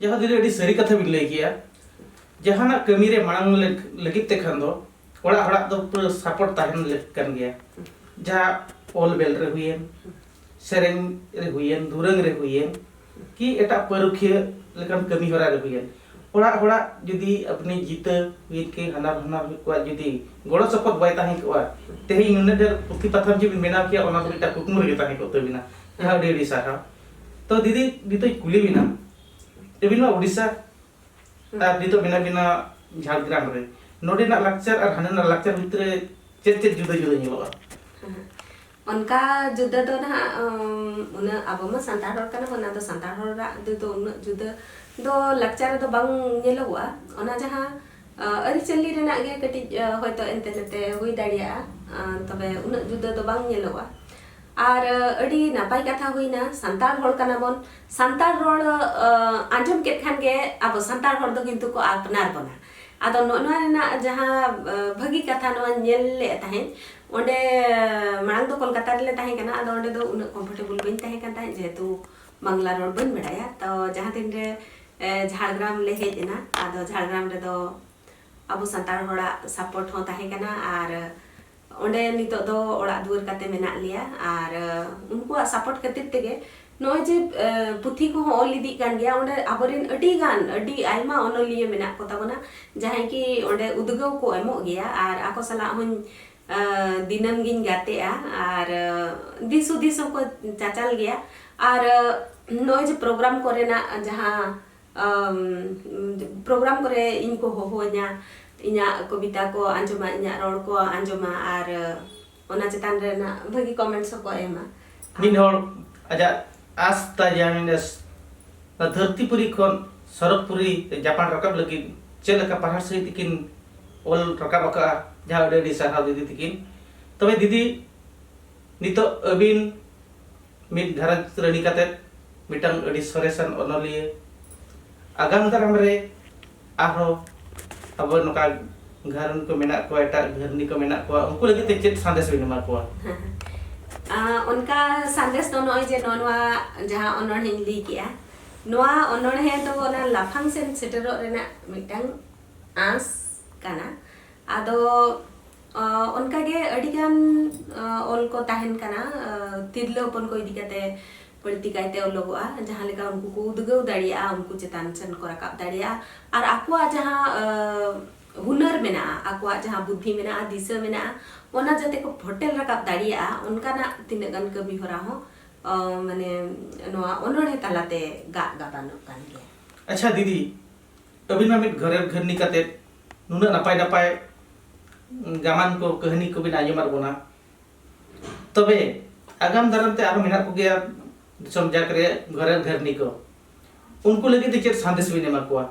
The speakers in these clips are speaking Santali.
ᱡᱟᱦᱟᱸ ᱫᱤᱱ ᱟᱹᱰᱤ ᱥᱟᱹᱨᱤ ᱠᱟᱛᱷᱟ ᱵᱤᱱ ᱞᱟᱹᱭ ᱠᱮᱜᱼᱟ ᱡᱟᱦᱟᱱᱟᱜ ᱠᱟᱹᱢᱤ ᱨᱮ ᱢᱟᱲᱟᱝ ᱞᱟᱹᱜᱤᱫ ᱛᱮ ᱠᱷᱟᱱ ᱫᱚ ᱚᱲᱟᱜ ᱦᱚᱲᱟᱜ ᱫᱚ ᱯᱩᱨᱟᱹ ᱥᱟᱯᱚᱨᱴ ᱛᱟᱦᱮᱱ ᱞᱟᱹᱠ ᱠᱟᱱ ᱜᱮᱭᱟ ᱡᱟᱦᱟᱸ ᱚᱞ ᱵᱮᱞ ᱨᱮ ᱦᱩᱭᱮᱱ ᱥᱮᱨᱮᱧ ᱨᱮ ᱦᱩᱭᱮᱱ ᱫᱩᱨᱟᱹᱝ ᱨᱮ ᱦᱩᱭᱮᱱ ᱠᱤ ᱮᱴᱟᱜ ᱯᱟᱹᱨᱩᱠᱷᱤᱭᱟᱹ ᱞᱮᱠᱟᱱ ᱠᱟᱹᱢᱤ ᱦᱚᱨᱟ ᱨᱮ ᱦᱩᱭᱮᱱ ᱚᱲᱟᱜ ᱦᱚᱲᱟᱜ ᱡᱩᱫᱤ ᱟᱯᱱᱤ ᱡᱤᱛᱟᱹ ᱦᱩᱭᱮᱱ ᱠᱤ ᱦᱟᱱᱟᱨ ᱦᱟᱱᱟᱨ ᱦᱩᱭ ᱠᱚᱣᱟ ᱡᱩᱫᱤ ᱜᱚᱲᱚ ᱥᱚᱯᱚᱦᱚᱫ ᱵᱟᱭ ᱛᱟᱦᱮᱸ ᱠᱚᱜᱼᱟ ᱛᱮᱦᱮᱧ ᱱᱩᱱᱟᱹᱜ ᱰᱷᱮᱨ ᱯᱩᱛᱷᱤ ᱯᱟᱛᱷᱟᱢ ᱡᱩᱫᱤ ᱵᱮᱱᱟᱣ ᱠᱮᱭᱟ ᱚᱱᱟ ᱫᱚ ᱢᱤᱫᱴᱟᱝ ᱠᱩᱠᱢᱩ ᱨᱮᱜᱮ ᱛᱟᱦᱮᱸ ᱠᱚᱜ ᱛᱟᱹᱵᱤᱱᱟ ᱡᱟᱦᱟᱸ ᱟᱹᱰᱤ ᱟᱹᱰᱤ ᱥᱟᱨᱦᱟᱣ ᱛᱚ ᱫᱤᱫᱤ ᱱᱤᱛᱚᱜ ᱠᱩᱞᱤ ᱵᱤᱱᱟ ᱟᱹᱵᱤᱱ ᱢᱟ ᱩᱰᱤᱥᱟ ᱟᱨ ᱱᱤᱛᱚᱜ ᱢᱮᱱᱟᱜ ᱵᱤᱱᱟ ᱡᱷᱟᱲᱜᱨᱟᱢ ᱨᱮ ᱱᱚᱰᱮᱱᱟᱜ ᱞᱟᱠᱪᱟᱨ ᱟᱨ ᱦᱟᱸᱰᱮᱱᱟᱜ ᱞᱟᱠᱪᱟᱨ ᱵᱷᱤᱛᱨᱤ ᱨᱮ ᱪᱮᱫ ᱪᱮᱫ ᱡᱩᱫᱟᱹ ᱡᱩᱫᱟᱹ ᱧᱮᱞᱚᱜᱼᱟ ᱚᱱᱠᱟ ᱡᱩᱫᱟᱹ ᱫᱚ ᱱᱟᱦᱟᱜ ᱩᱱᱟᱹᱜ ᱟᱵᱚ ᱢᱟ ᱥᱟᱱᱛᱟᱲ ᱦᱚᱲ ᱠᱟᱱᱟ ᱵᱚᱱ ᱟᱫᱚ ᱥᱟᱱᱛᱟᱲ ᱦᱚᱲᱟᱜ ᱫᱚ ᱩᱱᱟᱹᱜ ᱡᱩᱫᱟᱹ ᱫᱚ ᱞᱟᱠᱪᱟᱨ ᱨᱮᱫᱚ ᱵᱟᱝ ᱧᱮᱞᱚᱜᱚᱜᱼᱟ ᱚᱱᱟ ᱡᱟᱦᱟᱸ ᱟᱹᱨᱤᱪᱟᱹᱞᱤ ᱨᱮᱱᱟᱜ ᱜᱮ ᱠᱟᱹᱴᱤᱡ ᱦᱚᱭᱛᱳ ᱮᱱᱛᱮ ᱱᱮᱛᱮ ᱦᱩᱭ ᱫᱟᱲᱮᱭᱟᱜᱼᱟ ᱛᱚᱵᱮ ᱩᱱᱟᱹᱜ ᱡᱩᱫᱟᱹ ᱫᱚ ᱵᱟᱝ ᱧᱮᱞᱚᱜᱼᱟ ᱟᱨ ᱟᱹᱰᱤ ᱱᱟᱯᱟᱭ ᱠᱟᱛᱷᱟ ᱦᱩᱭᱱᱟ ᱥᱟᱱᱛᱟᱲ ᱦᱚᱲ ᱠᱟᱱᱟ ᱵᱚᱱ ᱥᱟᱱᱛᱟᱲ ᱨᱚᱲ ᱟᱸᱡᱚᱢ ᱠᱮᱫ ᱠᱷᱟᱱ ᱜᱮ ᱟᱵᱚ ᱥᱟᱱᱛᱟᱲ ᱦᱚᱲ ᱫᱚ ᱠᱤᱱᱛᱩ ᱠᱚ ᱟᱯᱱᱟᱨ ᱵᱚᱱᱟ ᱟᱫᱚ ᱱᱚᱜᱼᱚ ᱱᱚᱣᱟ ᱨᱮᱱᱟᱜ ᱡᱟᱦᱟᱸ ᱵᱷᱟᱹᱜᱤ ᱠᱟᱛᱷᱟ ᱱᱚᱣᱟ ᱧᱮᱞ ᱞᱮᱫ ᱛᱟᱦᱮᱸᱫ ᱚᱸᱰᱮ ᱢᱟᱲᱟᱝ ᱫᱚ ᱠᱳᱞᱠᱟᱛᱟ ᱨᱮᱞᱮ ᱛᱟᱦᱮᱸ ᱠᱟᱱᱟ ᱟᱫᱚ ᱚᱸᱰᱮ ᱫᱚ ᱩᱱᱟᱹᱜ ᱠᱚᱢᱯᱷᱚᱨᱴᱮᱵᱚᱞ ᱵᱟᱹᱧ ᱛᱟᱦᱮᱸ ᱠᱟᱱ ᱛᱟᱦᱮᱸᱫ ᱡᱮᱦᱮᱛᱩ ᱵᱟᱝᱞᱟ ᱨᱚᱲ ᱵᱟᱹᱧ ᱵᱟᱲᱟᱭᱟ ᱛᱚ ᱡᱟᱦᱟᱸ ᱛᱤᱱ ᱨᱮ ᱡᱷᱟᱲᱜᱨᱟᱢ ᱞᱮ ᱦᱮᱡ ᱮᱱᱟ ᱟᱫᱚ ᱡᱷᱟᱲᱜᱨᱟᱢ ᱨᱮᱫᱚ ᱟᱵᱚ ᱥᱟᱱᱛᱟᱲ ᱦᱚᱲᱟᱜ ᱥᱟᱯᱚᱨᱴ ᱦᱚᱸ ᱛᱟᱦᱮᱸ ᱠᱟᱱᱟ ᱟᱨ ᱚᱸᱰᱮ ᱱᱤᱛᱚᱜ ᱫᱚ ᱚᱲᱟᱜ ᱫᱩᱣᱟᱹᱨ ᱠᱟᱛᱮ ᱢᱮᱱᱟᱜ ᱞᱮᱭᱟ ᱟᱨ ᱩᱱᱠᱩᱣᱟᱜ ᱥᱟᱯᱚᱨᱴ ᱠᱷᱟᱹᱛᱤᱨ ᱛᱮᱜᱮ ᱱᱚᱜᱼᱚᱭ ᱡᱮ ᱯᱩᱛᱷᱤ ᱠᱚᱦᱚᱸ ᱚᱞ ᱤᱫᱤᱜ ᱠᱟᱱ ᱜᱮᱭᱟ ᱚᱸᱰᱮ ᱟᱵᱚᱨᱮᱱ ᱟᱹᱰᱤ ᱜᱟᱱ ᱟᱹᱰᱤ ᱟᱭᱢᱟ ᱚᱱᱚᱞᱤᱭᱟᱹ ᱢᱮᱱᱟᱜ ᱠᱚ ᱛᱟᱵᱚᱱᱟ ᱡᱟᱦᱟᱸᱭ ᱠᱤ ᱚᱸᱰᱮ ᱩᱫᱽᱜᱟᱹᱣ ᱠᱚ ᱮᱢᱚᱜ ᱜᱮᱭᱟ ᱟᱨ ᱟᱠᱚ ᱥᱟᱞᱟᱜ ᱦᱚᱧ ᱫᱤᱱᱟᱹᱢ ᱜᱤᱧ ᱜᱟᱛᱮᱜᱼᱟ ᱟᱨ ᱫᱤᱥ ᱦᱩᱫᱤᱥ ᱦᱚᱸᱠᱚ ᱪᱟᱪᱟᱞ ᱜᱮᱭᱟ ᱟᱨ ᱱᱚᱜᱼᱚᱭ ᱡᱮ ᱯᱨᱳᱜᱨᱟᱢ ᱠᱚᱨᱮᱱᱟᱜ ᱡᱟᱦᱟᱸ ᱯᱨᱳᱜᱨᱟᱢ ᱠᱚᱨᱮ ᱤᱧ ᱠᱚ ᱦᱚᱦᱚᱣᱟᱹᱧᱟ ᱤᱧᱟᱹᱜ ᱠᱚᱵᱤᱛᱟ ᱠᱚ ᱟᱸᱡᱚᱢᱟ ᱤᱧᱟᱹᱜ ᱨᱚᱲ ᱠᱚ ᱟᱸᱡᱚᱢᱟ ᱟᱨ ᱚᱱᱟ ᱪᱮᱛᱟᱱ ᱨᱮᱱᱟᱜ ᱵᱷᱟᱹᱜᱤ ᱠᱚᱢᱮᱱᱴᱥ ᱦᱚᱸᱠᱚ ᱮᱢᱟ ᱢᱤᱫ ᱦᱚᱲ ᱟᱡᱟᱜ ᱟᱥ ᱛᱟᱭ ᱡᱟᱦᱟᱸᱭ ᱱᱚᱣᱟ ᱫᱷᱟᱹᱨᱛᱤ ᱯᱩᱨᱤ ᱠᱷᱚᱱ ᱥᱚᱨᱚᱜᱽ ᱯᱩᱨᱤ ᱡᱟᱯᱟᱲ ᱨᱟᱠᱟᱵ ᱞᱟᱹᱜᱤᱫ ᱪᱮᱫ ᱞᱮᱠᱟ ᱯᱟᱲᱦᱟᱣ ᱥᱟᱺᱦᱤᱡ ᱛᱮᱠᱤᱱ ᱚᱞ ᱨᱟᱠᱟᱵ ᱟᱠᱟᱫᱼᱟ ᱡᱟᱦᱟᱸ ᱟᱹᱰᱤ ᱟᱹᱰᱤ ᱥᱟᱨᱦᱟᱣ ᱫᱤᱫᱤ ᱛᱤᱠᱤᱱ ᱛᱚᱵᱮ ᱫᱤᱫᱤ ᱱᱤᱛᱚᱜ ᱟᱹᱵᱤᱱ ᱢᱤᱫ ᱜᱷᱟᱨᱚᱸᱡᱽ ᱨᱟᱹᱱᱤ ᱠᱟᱛᱮ ᱢᱤᱫᱴᱟᱝ ᱟᱹᱰᱤ ᱥᱚᱨᱮᱥᱟᱱ ᱚᱱᱚᱞᱤᱭᱟᱹ ᱟᱜᱟᱢ ᱫᱟᱨᱟᱢ ᱨᱮ ᱟᱨᱦᱚᱸ ᱟᱵᱚ ᱱᱚᱝᱠᱟ ᱜᱷᱟᱨᱚᱸᱡᱽ ᱠᱚ ᱢᱮᱱᱟᱜ ᱠᱚᱣᱟ ᱮᱴᱟᱜ ᱜᱷᱟᱹᱨᱱᱤ ᱠᱚ ᱢᱮᱱᱟᱜ ᱠᱚᱣᱟ ᱩᱱᱠᱩ ᱞᱟᱹᱜᱤᱫ ᱛᱮ ᱪᱮᱫ ᱥᱟᱸᱫᱮᱥ ᱵᱤᱱ ᱮᱢᱟ ᱠᱚᱣᱟ ᱚᱱᱠᱟ ᱥᱟᱸᱫᱮᱥ ᱫᱚ ᱱᱚᱜᱼᱚᱭ ᱡᱮ ᱱᱚᱣᱟ ᱡᱟᱦᱟᱸ ᱚᱱᱚᱬᱦᱮᱧ ᱞᱟᱹᱭ ᱠᱮᱜᱼᱟ ᱱᱚᱣᱟ ᱚᱱᱚᱬᱦᱮ ᱫᱚ ᱚᱱᱟ ᱞᱟᱯᱷᱟᱝ ᱥᱮᱱ ᱥᱮᱴᱮᱨᱚᱜ ᱨᱮᱱᱟᱜ ᱢᱤᱫᱴᱟᱝ ᱟᱸᱥ ᱠᱟᱱᱟ ᱟᱫᱚ ᱚᱱᱠᱟᱜᱮ ᱟᱹᱰᱤᱜᱟᱱ ᱚᱞ ᱠᱚ ᱛᱟᱦᱮᱱ ᱠᱟᱱᱟ ᱛᱤᱨᱞᱟᱹ ᱦᱚᱯᱚᱱ ᱠᱚ ᱤᱫᱤ ᱠᱟᱛᱮ ᱵᱟᱹᱲᱛᱤ ᱠᱟᱭᱛᱮ ᱚᱞᱚᱜᱚᱜᱼᱟ ᱡᱟᱦᱟᱸ ᱞᱮᱠᱟ ᱩᱱᱠᱩ ᱠᱚ ᱩᱫᱽᱜᱟᱹᱣ ᱫᱟᱲᱮᱭᱟᱜᱼᱟ ᱩᱱᱠᱩ ᱪᱮᱛᱟᱱ ᱥᱮᱱ ᱠᱚ ᱨᱟᱠᱟᱵ ᱫᱟᱲᱮᱭᱟᱜᱼᱟ ᱟᱨ ᱟᱠᱚᱣᱟᱜ ᱡᱟᱦᱟᱸ ᱦᱩᱱᱟᱹᱨ ᱢᱮᱱᱟᱜᱼᱟ ᱟᱠᱚᱣᱟᱜ ᱡᱟᱦᱟᱸ ᱵᱩᱫᱽᱫᱷᱤ ᱢᱮᱱᱟᱜᱼᱟ ᱫᱤᱥᱟᱹ ᱢᱮᱱᱟᱜᱼᱟ ᱚᱱᱟ ᱡᱟᱛᱮ ᱠᱚ ᱯᱷᱚᱴᱮᱞ ᱨᱟᱠᱟᱵ ᱫᱟᱲᱮᱭᱟᱜᱼᱟ ᱚᱱᱠᱟᱱᱟᱜ ᱛᱤᱱᱟᱹᱜ ᱜᱟᱱ ᱠᱟᱹᱢᱤ ᱦᱚᱨᱟ ᱦᱚᱸ ᱢᱟᱱᱮ ᱱᱚᱣᱟ ᱚᱱᱚᱬᱦᱮ ᱛᱟᱞᱟᱛᱮ ᱜᱟᱜ ᱜᱟᱵᱟᱱᱚᱜ ᱠᱟᱱ ᱜᱮᱭᱟ ᱟᱪᱪᱷᱟ ᱫᱤᱫᱤ ᱟᱹᱵᱤᱱ ᱢᱟ ᱢᱤᱫ ᱜᱷᱟᱨᱮᱵ ᱜᱷᱟᱹᱨᱱᱤ ᱠᱟᱛᱮ ᱱᱩᱱᱟᱹᱜ ᱱᱟᱯᱟᱭ ᱱᱟᱯᱟᱭ ᱜᱟᱢᱟᱱ ᱠᱚ ᱠᱟᱹᱦᱱᱤ ᱠᱚ ᱵᱤᱱ ᱟᱸᱡᱚᱢᱟᱫ ᱵᱚᱱᱟ ᱛᱚᱵᱮ ᱟᱜᱟᱢ ᱫᱟᱨᱟᱢ ᱛᱮ ᱟᱨᱦᱚᱸ ᱢᱮᱱᱟᱜ ᱠᱚᱜᱮᱭᱟ ᱫᱤᱥᱚᱢ ᱡᱟᱠ ᱨᱮ ᱜᱷᱟᱨᱮᱵ ᱜᱷᱟᱹᱨᱱᱤ ᱠᱚ ᱩᱱᱠᱩ ᱞᱟᱹᱜᱤᱫ ᱛᱮ ᱪᱮᱫ ᱥᱟᱸᱫᱮᱥ ᱵᱤᱱ ᱮᱢᱟ ᱠᱚᱣᱟ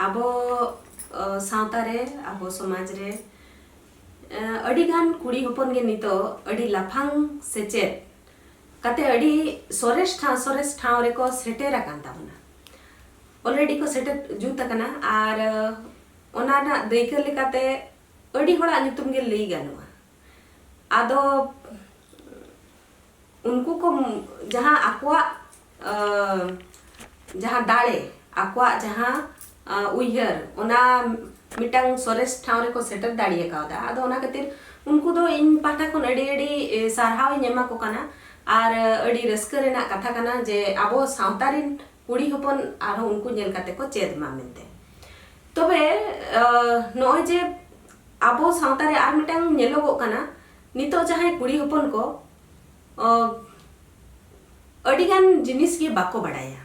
ᱟᱵᱚ ᱥᱟᱶᱛᱟ ᱨᱮ ᱟᱵᱚ ᱥᱚᱢᱟᱡᱽ ᱨᱮ ᱟᱹᱰᱤ ᱜᱟᱱ ᱠᱩᱲᱤ ᱦᱚᱯᱚᱱ ᱜᱮ ᱱᱤᱛᱚᱜ ᱟᱹᱰᱤ ᱞᱟᱯᱷᱟᱝ ᱥᱮᱪᱮᱫ ᱠᱟᱛᱮ ᱟᱹᱰᱤ ᱥᱚᱨᱮᱥ ᱴᱷᱟᱶ ᱥᱚᱨᱮᱥ ᱴᱷᱟᱶ ᱨᱮᱠᱚ ᱥᱮᱴᱮᱨ ᱟᱠᱟᱱ ᱛᱟᱵᱚᱱᱟ ᱚᱞᱨᱮᱰᱤ ᱠᱚ ᱥᱮᱴᱮᱨ ᱡᱩᱛ ᱟᱠᱟᱱᱟ ᱟᱨ ᱚᱱᱟ ᱨᱮᱱᱟᱜ ᱫᱟᱹᱭᱠᱟᱹ ᱞᱮᱠᱟᱛᱮ ᱟᱹᱰᱤ ᱦᱚᱲᱟᱜ ᱧᱩᱛᱩᱢ ᱜᱮ ᱞᱟᱹᱭ ᱜᱟᱱᱚᱜᱼᱟ ᱟᱫᱚ ᱩᱱᱠᱩ ᱠᱚ ᱡᱟᱦᱟᱸ ᱟᱠᱚᱣᱟᱜ ᱡᱟᱦᱟᱸ ᱫᱟᱲᱮ ᱟᱠᱚᱣᱟᱜ ᱡᱟᱦᱟᱸ ᱩᱭᱦᱟᱹᱨ ᱚᱱᱟ ᱢᱤᱫᱴᱟᱝ ᱥᱚᱨᱮᱥ ᱴᱷᱟᱶ ᱨᱮᱠᱚ ᱥᱮᱴᱮᱨ ᱫᱟᱲᱮ ᱠᱟᱣᱫᱟ ᱟᱫᱚ ᱚᱱᱟ ᱠᱷᱟᱹᱛᱤᱨ ᱩᱱᱠᱩ ᱫᱚ ᱤᱧ ᱯᱟᱦᱴᱟ ᱠᱷᱚᱱ ᱟᱹᱰᱤ ᱟᱹᱰᱤ ᱥᱟᱨᱦᱟᱣ ᱤᱧ ᱮᱢᱟ ᱠᱚ ᱠᱟᱱᱟ ᱟᱨ ᱟᱹᱰᱤ ᱨᱟᱹᱥᱠᱟᱹ ᱨᱮᱱᱟᱜ ᱠᱟᱛᱷᱟ ᱠᱟᱱᱟ ᱡᱮ ᱟᱵᱚ ᱥᱟᱶᱛᱟ ᱨᱮᱱ ᱠᱩᱲᱤ ᱦᱚᱯᱚᱱ ᱟᱨᱦᱚᱸ ᱩᱱᱠᱩ ᱧᱮᱞ ᱠᱟᱛᱮ ᱠᱚ ᱪᱮᱫ ᱢᱟ ᱢᱮᱱᱛᱮ ᱛᱚᱵᱮ ᱱᱚᱜᱼᱚᱭ ᱡᱮ ᱟᱵᱚ ᱥᱟᱶᱛᱟ ᱨᱮ ᱟᱨ ᱢᱤᱫᱴᱟᱝ ᱧᱮᱞᱚᱜᱚᱜ ᱠᱟᱱᱟ ᱱᱤᱛᱚᱜ ᱡᱟᱦᱟᱸᱭ ᱠᱩᱲᱤ ᱦᱚᱯᱚᱱ ᱠᱚ ᱟᱹᱰᱤ ᱜᱟᱱ ᱡᱤᱱᱤᱥ ᱜᱮ ᱵᱟᱠᱚ ᱵᱟᱰᱟᱭᱟ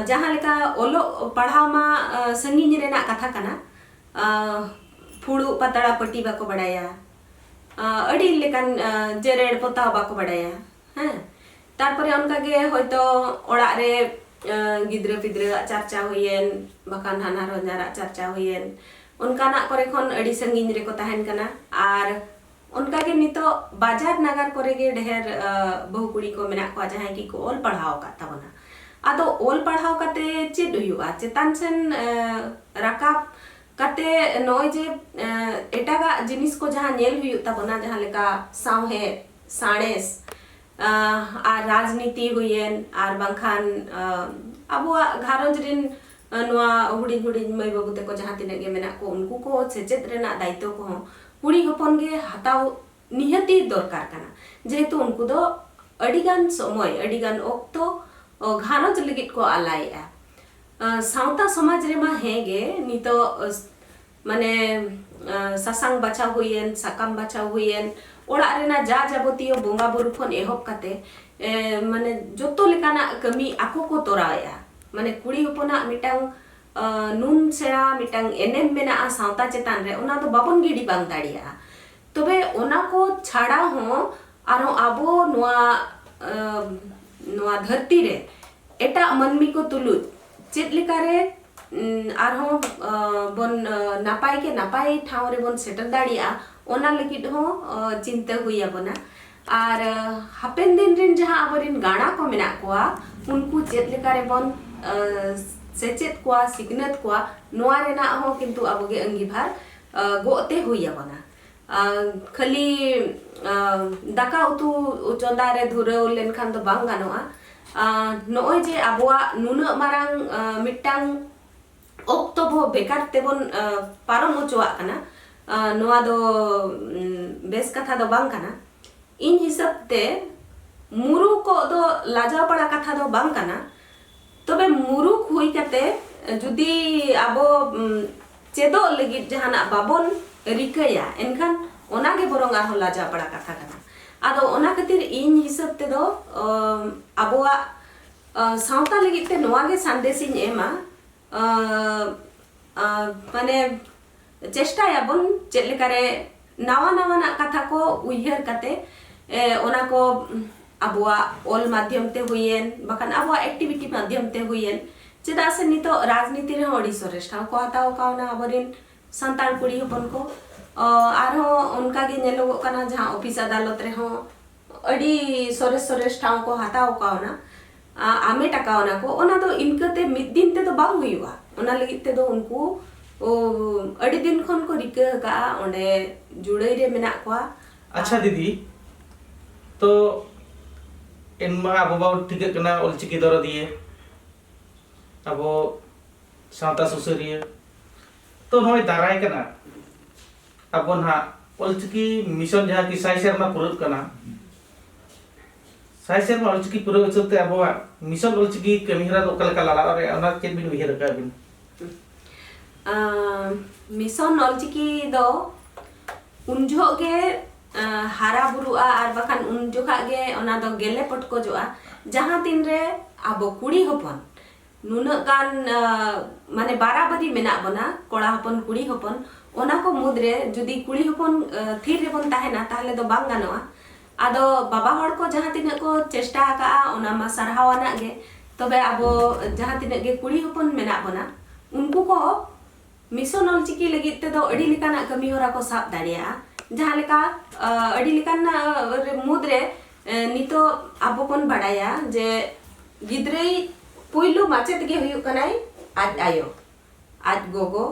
ᱡᱟᱦᱟᱸ ᱞᱮᱠᱟ ᱚᱞᱚᱜ ᱯᱟᱲᱦᱟᱣ ᱢᱟ ᱥᱟᱺᱜᱤᱧ ᱨᱮᱱᱟᱜ ᱠᱟᱛᱷᱟ ᱠᱟᱱᱟ ᱯᱷᱩᱲᱩᱜ ᱯᱟᱛᱲᱟ ᱯᱟᱹᱴᱤ ᱵᱟᱠᱚ ᱵᱟᱰᱟᱭᱟ ᱟᱹᱰᱤ ᱞᱮᱠᱟᱱ ᱡᱮᱨᱮᱲ ᱯᱚᱛᱟᱣ ᱵᱟᱠᱚ ᱵᱟᱰᱟᱭᱟ ᱦᱮᱸ ᱛᱟᱨᱯᱚᱨᱮ ᱚᱱᱠᱟ ᱜᱮ ᱦᱚᱭᱛᱚ ᱚᱲᱟᱜ ᱨᱮ ᱜᱤᱫᱽᱨᱟᱹ ᱯᱤᱫᱽᱨᱟᱹ ᱟᱜ ᱪᱟᱨᱪᱟ ᱦᱩᱭᱮᱱ ᱵᱟᱠᱷᱟᱱ ᱦᱟᱱᱦᱟᱨ ᱦᱚᱧᱦᱟᱨ ᱟᱜ ᱪᱟᱨᱪᱟ ᱦᱩᱭᱮᱱ ᱚᱱᱠᱟᱱᱟᱜ ᱠᱚᱨᱮ ᱠᱷᱚᱱ ᱟᱹᱰᱤ ᱥᱟᱺᱜᱤᱧ ᱨᱮᱠᱚ ᱛᱟᱦᱮᱱ ᱠᱟᱱᱟ ᱟᱨ ᱚᱱᱠᱟ ᱜᱮ ᱱᱤᱛᱚᱜ ᱵᱟᱡᱟᱨ ᱱᱟᱜᱟᱨ ᱠᱚᱨᱮ ᱜᱮ ᱰᱷᱮᱨ ᱵᱟᱹᱦᱩ ᱠᱩᱲᱤ ᱠᱚ ᱢᱮᱱᱟᱜ ᱠᱚᱣᱟ ᱡᱟᱦᱟᱸᱭ ᱜᱮ ᱠᱚ ᱚᱞ ᱯᱟᱲᱦᱟᱣ ᱟᱠᱟᱫ ᱛᱟᱵᱚᱱᱟ ᱟᱫᱚ ᱚᱞ ᱯᱟᱲᱦᱟᱣ ᱠᱟᱛᱮ ᱪᱮᱫ ᱦᱩᱭᱩᱜᱼᱟ ᱪᱮᱛᱟᱱ ᱥᱮᱱ ᱨᱟᱠᱟᱵ ᱠᱟᱛᱮ ᱱᱚᱜᱼᱚᱭ ᱡᱮ ᱮᱴᱟᱜᱟᱜ ᱡᱤᱱᱤᱥ ᱠᱚ ᱡᱟᱦᱟᱸ ᱧᱮᱞ ᱦᱩᱭᱩᱜ ᱛᱟᱵᱚᱱᱟ ᱡᱟᱦᱟᱸ ᱞᱮᱠᱟ ᱥᱟᱶᱦᱮᱫ ᱥᱟᱬᱮᱥ ᱟᱨ ᱨᱟᱡᱽᱱᱤᱛᱤ ᱦᱩᱭᱮᱱ ᱟᱨ ᱵᱟᱝᱠᱷᱟᱱ ᱟᱵᱚᱣᱟᱜ ᱜᱷᱟᱨᱚᱸᱡᱽ ᱨᱤᱱ ᱱᱚᱣᱟ ᱦᱩᱰᱤᱧ ᱦᱩᱰᱤᱧ ᱢᱟᱹᱭ ᱵᱟᱹᱵᱩ ᱛᱮᱠᱚ ᱡᱟᱦᱟᱸ ᱛᱤᱱᱟᱹᱜ ᱜᱮ ᱢᱮᱱᱟᱜ ᱠᱚ ᱩᱱᱠᱩ ᱠᱚ ᱥᱮᱪᱮᱫ ᱨᱮᱱᱟᱜ ᱫᱟᱭᱤᱛᱛᱚ ᱠᱚᱦᱚᱸ ᱠᱩᱲᱤ ᱦᱚᱯᱚᱱ ᱜᱮ ᱦᱟᱛᱟᱣ ᱱᱤᱦᱟᱹᱛᱤ ᱫᱚᱨᱠᱟᱨ ᱠᱟᱱᱟ ᱡᱮᱦᱮᱛᱩ ᱩᱱᱠᱩ ᱫᱚ ᱟᱹᱰᱤ ᱜᱟᱱ ᱥᱚᱢᱚᱭ ᱟᱹᱰᱤ ᱜᱟᱱ ᱚᱠᱛᱚ ᱜᱷᱟᱨᱚᱸᱡᱽ ᱞᱟᱹᱜᱤᱫ ᱠᱚ ᱟᱞᱟᱭᱮᱜᱼᱟ ᱥᱟᱶᱛᱟ ᱥᱚᱢᱟᱡᱽ ᱨᱮᱢᱟ ᱦᱮᱸ ᱜᱮ ᱱᱤᱛᱚᱜ ᱢᱟᱱᱮ ᱥᱟᱥᱟᱝ ᱵᱟᱪᱷᱟᱣ ᱦᱩᱭᱮᱱ ᱥᱟᱠᱟᱢ ᱵᱟᱪᱷᱟᱣ ᱦᱩᱭᱮᱱ ᱚᱲᱟᱜ ᱨᱮᱱᱟᱜ ᱡᱟ ᱡᱟᱵᱚᱛᱤᱭᱚ ᱵᱚᱸᱜᱟ ᱵᱩᱨᱩ ᱠᱷᱚᱱ ᱮᱦᱚᱵ ᱠᱟᱛᱮ ᱢᱟᱱᱮ ᱡᱚᱛᱚ ᱞᱮᱠᱟᱱᱟᱜ ᱠᱟᱹᱢᱤ ᱟᱠᱚ ᱠᱚ ᱛᱚᱨᱟᱣᱮᱜᱼᱟ ᱢᱟᱱᱮ ᱠᱩᱲᱤ ᱦᱚᱯᱚᱱᱟᱜ ᱢᱤᱫᱴᱟᱝ ᱱᱩᱱ ᱥᱮᱬᱟ ᱢᱤᱫᱴᱟᱝ ᱮᱱᱮᱢ ᱢᱮᱱᱟᱜᱼᱟ ᱥᱟᱶᱛᱟ ᱪᱮᱛᱟᱱ ᱨᱮ ᱚᱱᱟ ᱫᱚ ᱵᱟᱵᱚᱱ ᱜᱤᱰᱤ ᱵᱟᱝ ᱫᱟᱲᱮᱭᱟᱜᱼᱟ ᱛᱚᱵᱮ ᱚᱱᱟ ᱠᱚ ᱪᱷᱟᱲᱟ ᱦᱚᱸ ᱟᱨᱦᱚᱸ ᱟᱵᱚ ᱱᱚᱣᱟ ᱱᱚᱣᱟ ᱫᱷᱟᱹᱨᱛᱤ ᱨᱮ ᱮᱴᱟᱜ ᱢᱟᱹᱱᱢᱤ ᱠᱚ ᱛᱩᱞᱩᱡ ᱪᱮᱫ ᱞᱮᱠᱟᱨᱮ ᱟᱨᱦᱚᱸ ᱵᱚᱱ ᱱᱟᱯᱟᱭ ᱠᱮ ᱱᱟᱯᱟᱭ ᱴᱷᱟᱶ ᱨᱮᱵᱚᱱ ᱥᱮᱴᱮᱨ ᱫᱟᱲᱮᱭᱟᱜᱼᱟ ᱚᱱᱟ ᱞᱟᱹᱜᱤᱫ ᱦᱚᱸ ᱪᱤᱱᱛᱟᱹ ᱦᱩᱭ ᱟᱵᱚᱱᱟ ᱟᱨ ᱦᱟᱯᱮᱱ ᱫᱤᱱ ᱨᱤᱱ ᱡᱟᱦᱟᱸ ᱟᱵᱚᱨᱤᱱ ᱜᱟᱬᱟ ᱠᱚ ᱢᱮᱱᱟᱜ ᱠᱚᱣᱟ ᱩᱱᱠᱩ ᱪᱮᱫ ᱞᱮᱠᱟ ᱨᱮᱵᱚᱱ ᱥᱮᱪᱮᱫ ᱠᱚᱣᱟ ᱥᱤᱠᱷᱱᱟᱹᱛ ᱠᱚᱣᱟ ᱱᱚᱣᱟ ᱨᱮᱱᱟᱜ ᱦᱚᱸ ᱠᱤᱱᱛᱩ ᱟᱵᱚᱜᱮ ᱟᱺᱜᱤᱵᱷᱟᱨ ᱜᱚᱜ ᱛᱮ ᱦᱩᱭ ᱟᱵᱚᱱᱟ ᱠᱷᱟᱹᱞᱤ ᱫᱟᱠᱟ ᱩᱛᱩ ᱪᱚᱸᱫᱟ ᱨᱮ ᱫᱷᱩᱨᱟᱹᱣ ᱞᱮᱱᱠᱷᱟᱱ ᱫᱚ ᱵᱟᱝ ᱜᱟᱱᱚᱜᱼᱟ ᱱᱚᱜᱼᱚᱭ ᱡᱮ ᱟᱵᱚᱣᱟᱜ ᱱᱩᱱᱟᱹᱜ ᱢᱟᱨᱟᱝ ᱢᱤᱫᱴᱟᱝ ᱚᱠᱛᱚ ᱵᱚ ᱵᱮᱠᱟᱨ ᱛᱮᱵᱚᱱ ᱯᱟᱨᱚᱢ ᱚᱪᱚᱣᱟᱜ ᱠᱟᱱᱟ ᱱᱚᱣᱟ ᱫᱚ ᱵᱮᱥ ᱠᱟᱛᱷᱟ ᱫᱚ ᱵᱟᱝ ᱠᱟᱱᱟ ᱤᱧ ᱦᱤᱥᱟᱹᱵ ᱛᱮ ᱢᱩᱨᱩᱠᱚᱜ ᱫᱚ ᱞᱟᱡᱟᱣ ᱯᱟᱲᱟ ᱠᱟᱛᱷᱟ ᱫᱚ ᱵᱟᱝ ᱠᱟᱱᱟ ᱛᱚᱵᱮ ᱢᱩᱨᱩᱠ ᱦᱩᱭ ᱠᱟᱛᱮ ᱡᱩᱫᱤ ᱟᱵᱚ ᱪᱮᱫᱚᱜ ᱞᱟᱹᱜᱤᱫ ᱡᱟᱦᱟᱱᱟᱜ ᱵᱟᱵᱚᱱ ᱨᱤᱠᱟᱹᱭᱟ ᱮᱱᱠᱷᱟᱱ ᱚᱱᱟ ᱜᱮ ᱵᱚᱨᱚᱝ ᱟᱨᱦᱚᱸ ᱞᱟᱡᱟᱣ ᱯᱟᱲᱟ ᱠᱟᱛᱷᱟ ᱠᱟᱱᱟ ᱟᱫᱚ ᱚᱱᱟ ᱠᱷᱟᱹᱛᱤᱨ ᱤᱧ ᱦᱤᱥᱟᱹᱵ ᱛᱮᱫᱚ ᱟᱵᱚᱣᱟᱜ ᱥᱟᱶᱛᱟ ᱞᱟᱹᱜᱤᱫ ᱛᱮ ᱱᱚᱣᱟ ᱜᱮ ᱥᱟᱸᱫᱮᱥ ᱤᱧ ᱮᱢᱟ ᱢᱟᱱᱮ ᱪᱮᱥᱴᱟᱭᱟᱵᱚᱱ ᱪᱮᱫ ᱞᱮᱠᱟᱨᱮ ᱱᱟᱣᱟ ᱱᱟᱣᱟᱱᱟᱜ ᱠᱟᱛᱷᱟ ᱠᱚ ᱩᱭᱦᱟᱹᱨ ᱠᱟᱛᱮ ᱚᱱᱟ ᱠᱚ ᱟᱵᱚᱣᱟᱜ ᱚᱞ ᱢᱟᱫᱽᱫᱷᱚᱢ ᱛᱮ ᱦᱩᱭᱮᱱ ᱵᱟᱠᱷᱟᱱ ᱟᱵᱚᱣᱟᱜ ᱮᱠᱴᱤᱵᱷᱤᱴᱤ ᱢᱟᱫᱽᱫᱷᱚᱢ ᱛᱮ ᱦᱩᱭᱮᱱ ᱪᱮᱫᱟᱜ ᱥᱮ ᱱᱤᱛᱚᱜ ᱨᱟᱡᱽᱱᱤᱛᱤ ᱨᱮ ᱟᱹᱰᱤ ᱥᱚᱨᱮᱥ ᱴᱷᱟᱶ ᱠᱚ ᱦᱟᱛᱟᱣ ᱠᱟᱣᱱᱟ ᱟᱵᱚᱨᱮᱱ ᱥᱟᱱᱛᱟᱲ ᱠᱩᱲᱤ ᱦᱚᱯᱚᱱ ᱠᱚ ᱟᱨᱦᱚᱸ ᱚᱱᱠᱟᱜᱮ ᱧᱮᱞᱚᱜᱚᱜ ᱠᱟᱱᱟ ᱡᱟᱦᱟᱸ ᱚᱯᱷᱤᱥ ᱟᱫᱟᱞᱚᱛ ᱨᱮᱦᱚᱸ ᱟᱹᱰᱤ ᱥᱚᱨᱮᱥ ᱥᱚᱨᱮᱥ ᱴᱷᱟᱶ ᱠᱚ ᱦᱟᱛᱟᱣ ᱠᱟᱣᱱᱟ ᱟᱢᱮᱴ ᱟᱠᱟᱣᱱᱟ ᱠᱚ ᱚᱱᱟ ᱫᱚ ᱤᱱᱠᱟᱹᱛᱮ ᱢᱤᱫ ᱫᱤᱱ ᱛᱮᱫᱚ ᱵᱟᱝ ᱦᱩᱭᱩᱜᱼᱟ ᱚᱱᱟ ᱞᱟᱹᱜᱤᱫ ᱛᱮᱫᱚ ᱩᱱᱠᱩ ᱟᱹᱰᱤ ᱫᱤᱱ ᱠᱷᱚᱱ ᱠᱚ ᱨᱤᱠᱟᱹ ᱟᱠᱟᱫᱼᱟ ᱚᱸᱰᱮ ᱡᱩᱲᱟᱹᱭ ᱨᱮ ᱢᱮᱱᱟᱜ ᱠᱚᱣᱟ ᱟᱪᱪᱷᱟ ᱫᱤᱫᱤ ᱛᱚ ᱮᱱᱢᱟ ᱟᱵᱚ ᱵᱚᱱ ᱴᱷᱤᱠᱟᱹᱜ ᱠᱟᱱᱟ ᱚᱞᱪᱤᱠᱤ ᱫᱚᱨᱚᱫᱤᱭᱟᱹ ᱟᱵᱚ ᱥᱟᱶᱛᱟ ᱥᱩᱥᱟᱹᱨᱤᱭᱟᱹ ᱛᱚ ᱱᱚᱜᱼᱚᱭ ᱫᱟᱨᱟᱭ ᱠᱟᱱᱟ ᱟᱵᱚ ᱱᱟᱦᱟᱜ ᱚᱞᱪᱤᱠᱤ ᱢᱤᱥᱚᱱ ᱡᱟᱦᱟᱸ ᱠᱤ ᱥᱟᱭ ᱥᱮᱨᱢᱟ ᱯᱩᱨᱟᱹᱜ ᱠᱟᱱᱟ ᱥᱟᱭ ᱥᱮᱨᱢᱟ ᱚᱞᱪᱤᱠᱤ ᱯᱩᱨᱟᱹᱣ ᱦᱤᱥᱟᱹᱵ ᱛᱮ ᱟᱵᱚᱣᱟᱜ ᱢᱤᱥᱚᱱ ᱚᱞᱪᱤᱠᱤ ᱠᱟᱹᱢᱤᱦᱚᱨᱟ ᱫᱚ ᱚᱠᱟ ᱞᱮᱠᱟ ᱞᱟᱲᱟᱣ ᱫᱟᱲᱮᱭᱟᱜᱼᱟ ᱚᱱᱟ ᱪᱮᱫ ᱵᱤᱱ ᱩᱭᱦᱟᱹᱨ ᱟᱠᱟᱫ ᱵᱤᱱ ᱢᱤᱥᱚᱱ ᱚᱞᱪᱤᱠᱤ ᱫᱚ ᱩᱱ ᱡᱚᱦᱚᱜ ᱜᱮ ᱦᱟᱨᱟ ᱵᱩᱨᱩᱜᱼᱟ ᱟᱨ ᱵᱟᱠᱷᱟᱱ ᱩᱱ ᱡᱚᱠᱷᱟᱜ ᱜᱮ ᱚᱱᱟ ᱫᱚ ᱜᱮᱞᱮ ᱯᱚᱴᱠᱚᱡᱚᱜᱼᱟ ᱡᱟᱦᱟᱸ ᱛᱤᱱ ᱨᱮ ᱟᱵᱚ ᱠᱩᱲᱤ ᱦᱚᱯᱚᱱ ᱱᱩᱱᱟᱹᱜ ᱜᱟᱱ ᱢᱟᱱᱮ ᱵᱟᱨᱟᱵᱟᱹᱨᱤ ᱢᱮᱱᱟᱜ ᱵᱚᱱᱟ ᱠᱚᱲᱟ ᱦᱚᱯᱚᱱ ᱠᱩᱲᱤ ᱦᱚᱯᱚᱱ ᱚᱱᱟ ᱠᱚ ᱢᱩᱫᱽ ᱨᱮ ᱡᱩᱫᱤ ᱠᱩᱲᱤ ᱦᱚᱯᱚᱱ ᱛᱷᱤᱨ ᱨᱮᱵᱚᱱ ᱛᱟᱦᱮᱱᱟ ᱛᱟᱦᱚᱞᱮ ᱫᱚ ᱵᱟᱝ ᱜᱟᱱᱚᱜᱼᱟ ᱟᱫᱚ ᱵᱟᱵᱟ ᱦᱚᱲ ᱠᱚ ᱡᱟᱦᱟᱸ ᱛᱤᱱᱟᱹᱜ ᱠᱚ ᱪᱮᱥᱴᱟ ᱟᱠᱟᱜᱼᱟ ᱚᱱᱟ ᱢᱟ ᱥᱟᱨᱦᱟᱣ ᱟᱱᱟᱜ ᱜᱮ ᱛᱚᱵᱮ ᱟᱵᱚ ᱡᱟᱦᱟᱸ ᱛᱤᱱᱟᱹᱜ ᱜᱮ ᱠᱩᱲᱤ ᱦᱚᱯᱚᱱ ᱢᱮᱱᱟᱜ ᱵᱚᱱᱟ ᱩᱱᱠᱩ ᱠᱚ ᱢᱤᱥᱚᱱ ᱚᱞᱪᱤᱠᱤ ᱞᱟᱹᱜᱤᱫ ᱛᱮᱫᱚ ᱟᱹᱰᱤ ᱞᱮᱠᱟᱱᱟᱜ ᱠᱟᱹᱢᱤ ᱦᱚᱨᱟ ᱠᱚ ᱥᱟᱵ ᱫᱟᱲᱮᱭᱟᱜᱼᱟ ᱡᱟᱦᱟᱸ ᱞᱮᱠᱟ ᱟᱹᱰᱤ ᱞᱮᱠᱟᱱ ᱢᱩᱫᱽ ᱨᱮ ᱱᱤᱛᱚᱜ ᱟᱵᱚ ᱵᱚᱱ ᱵᱟᱲᱟᱭᱟ ᱡᱮ ᱜᱤᱫᱽᱨᱟᱹᱭ ᱯᱩᱭᱞᱩ ᱢᱟᱪᱮᱫ ᱜᱮ ᱦᱩᱭᱩᱜ ᱠᱟᱱᱟᱭ ᱟᱡ ᱟᱭᱳ ᱟᱡ ᱜᱚᱜᱚ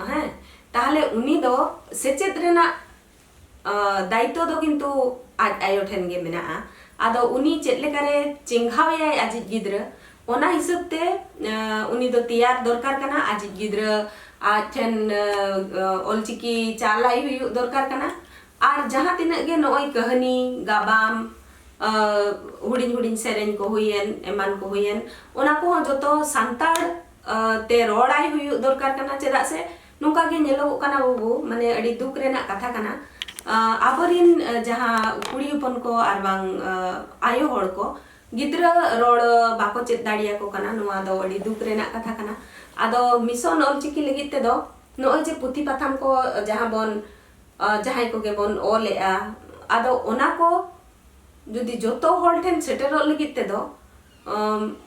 ᱦᱮᱸ ᱛᱟᱦᱞᱮ ᱩᱱᱤ ᱫᱚ ᱥᱮᱪᱮᱫ ᱨᱮᱱᱟᱜ ᱫᱟᱭᱤᱛᱛᱚ ᱫᱚ ᱠᱤᱱᱛᱩ ᱟᱡ ᱟᱭᱳ ᱴᱷᱮᱱ ᱜᱮ ᱢᱮᱱᱟᱜᱼᱟ ᱟᱫᱚ ᱩᱱᱤ ᱪᱮᱫ ᱞᱮᱠᱟᱨᱮ ᱪᱮᱸᱜᱷᱟᱣ ᱮᱭᱟᱭ ᱟᱡᱤᱡ ᱜᱤᱫᱽᱨᱟᱹ ᱚᱱᱟ ᱦᱤᱥᱟᱹᱵ ᱛᱮ ᱩᱱᱤ ᱫᱚ ᱛᱮᱭᱟᱨ ᱫᱚᱨᱠᱟᱨ ᱠᱟᱱᱟ ᱟᱡᱤᱡ ᱜᱤᱫᱽᱨᱟᱹ ᱟᱡ ᱴᱷᱮᱱ ᱚᱞᱪᱤᱠᱤ ᱪᱟᱞᱟᱭ ᱦᱩᱭᱩᱜ ᱫᱚᱨᱠᱟᱨ ᱠᱟᱱᱟ ᱟᱨ ᱡᱟᱦᱟᱸ ᱛᱤᱱᱟᱹᱜ ᱜᱮ ᱱᱚᱜᱼᱚᱭ ᱠᱟᱹᱦᱱᱤ ᱜᱟᱵᱟᱢ ᱦᱩᱰᱤᱧ ᱦᱩᱰᱤᱧ ᱥᱮᱨᱮᱧ ᱠᱚ ᱦᱩᱭᱮᱱ ᱮᱢᱟᱱ ᱠᱚ ᱦᱩᱭᱮᱱ ᱚᱱᱟ ᱠᱚᱦᱚᱸ ᱡᱚᱛᱚ ᱥᱟᱱᱛᱟᱲ ᱛᱮ ᱨᱚᱲᱟᱭ ᱦᱩᱭᱩᱜ ᱫᱚᱨᱠᱟᱨ ᱠᱟᱱᱟ ᱪᱮᱫᱟᱜ ᱥᱮ ᱱᱚᱝᱠᱟ ᱜᱮ ᱧᱮᱞᱚᱜᱚᱜ ᱠᱟᱱᱟ ᱵᱟᱹᱵᱩ ᱢᱟᱱᱮ ᱟᱹᱰᱤ ᱫᱩᱠ ᱨᱮᱱᱟᱜ ᱠᱟᱛᱷᱟ ᱠᱟᱱᱟ ᱟᱵᱚᱨᱤᱱ ᱡᱟᱦᱟᱸ ᱠᱩᱲᱤ ᱦᱚᱯᱚᱱ ᱠᱚ ᱟᱨ ᱵᱟᱝ ᱟᱭᱳ ᱦᱚᱲ ᱠᱚ ᱜᱤᱫᱽᱨᱟᱹ ᱨᱚᱲ ᱵᱟᱠᱚ ᱪᱮᱫ ᱫᱟᱲᱮᱭᱟᱠᱚ ᱠᱟᱱᱟ ᱱᱚᱣᱟ ᱫᱚ ᱟᱹᱰᱤ ᱫᱩᱠ ᱨᱮᱱᱟᱜ ᱠᱟᱛᱷᱟ ᱠᱟᱱᱟ ᱟᱫᱚ ᱢᱤᱥᱚᱱ ᱚᱞᱪᱤᱠᱤ ᱞᱟᱹᱜᱤᱫ ᱛᱮᱫᱚ ᱱᱚᱜᱼᱚᱭ ᱡᱮ ᱯᱩᱛᱷᱤ ᱯᱟᱛᱷᱟᱢ ᱠᱚ ᱡᱟᱦᱟᱸ ᱵᱚᱱ ᱡᱟᱦᱟᱸᱭ ᱠᱚᱜᱮ ᱵᱚᱱ ᱚᱞᱮᱜᱼᱟ ᱟᱫᱚ ᱚᱱᱟ ᱠᱚ ᱡᱩᱫᱤ ᱡᱚᱛᱚ ᱦᱚᱲ ᱴᱷᱮᱱ ᱥᱮᱴᱮᱨᱚᱜ ᱞᱟᱹᱜᱤᱫ ᱛᱮᱫᱚ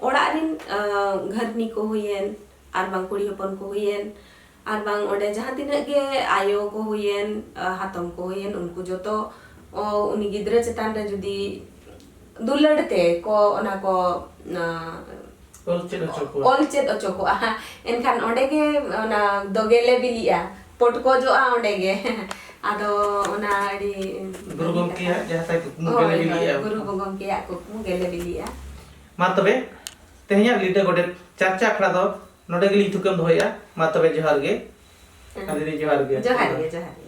ᱚᱲᱟᱜ ᱨᱤᱱ ᱜᱷᱟᱹᱨᱱᱤ ᱠᱚ ᱦᱩᱭᱮᱱ ᱟᱨ ᱵᱟᱝ ᱠᱩᱲᱤ ᱦᱚᱯᱚᱱ ᱠᱚ ᱦᱩᱭᱮᱱ ᱟᱨ ᱵᱟᱝ ᱚᱸᱰᱮ ᱡᱟᱦᱟᱸ ᱛᱤᱱᱟᱹᱜ ᱜᱮ ᱟᱭᱳ ᱠᱚ ᱦᱩᱭᱮᱱ ᱦᱟᱛᱚᱢ ᱠᱚ ᱦᱩᱭᱮᱱ ᱩᱱᱠᱩ ᱡᱚᱛᱚ ᱩᱱᱤ ᱜᱤᱫᱽᱨᱟᱹ ᱪᱮᱛᱟᱱ ᱨᱮ ᱡᱩᱫᱤ ᱫᱩᱞᱟᱹᱲ ᱛᱮ ᱠᱚ ᱚᱱᱟ ᱠᱚ ᱚᱞ ᱪᱮᱫ ᱚᱪᱚ ᱠᱚᱣᱟ ᱚᱞ ᱪᱮᱫ ᱚᱪᱚ ᱠᱚᱣᱟ ᱮᱱᱠᱷᱟᱱ ᱚᱸᱰᱮ ᱜᱮ ᱚᱱᱟ ᱫᱚ ᱜᱮᱞᱮ ᱵᱤᱞᱤᱜᱼᱟ ᱯᱚᱴᱠᱚᱡᱚᱜᱼᱟ ᱚᱸᱰᱮ ᱜᱮ ᱟᱫᱚ ᱚᱱᱟ ᱟᱹᱰᱤ ᱜᱩᱨᱩ ᱜᱚᱢᱠᱮᱭᱟᱜ ᱡᱟᱦᱟᱸ ᱛᱟᱭ ᱠᱩᱠᱢᱩ ᱜᱮᱞᱮ ᱵᱤᱞᱤᱜᱼᱟ ᱜᱩᱨᱩ ᱜᱚᱢᱠᱮᱭᱟᱜ ᱠᱩᱠᱢᱩ ᱜᱮᱞᱮ ᱵᱤᱞᱤᱜᱼᱟ ᱢᱟ ᱛᱚᱵᱮ ᱛᱮᱦᱮᱧᱟᱜ ᱞᱤᱴᱟᱹ ᱜᱚᱰᱮᱛ ᱪᱟᱨᱪᱟ ᱟᱠᱷᱲᱟ ᱫᱚ ᱱᱚᱰᱮ ᱜᱮᱞᱤᱧ ᱛᱷᱩᱠᱟᱹᱢ ᱫᱚᱦᱚᱭᱮᱫᱼᱟ ᱢᱟ ᱛᱚᱵᱮ ᱡᱚᱦᱟᱨ ᱜᱮ ᱫᱤᱫᱤ ᱡᱚᱦᱟᱨ ᱜᱮ ᱡᱚᱦᱟᱨ ᱜᱮ ᱡᱚᱦᱟᱨ ᱜᱮ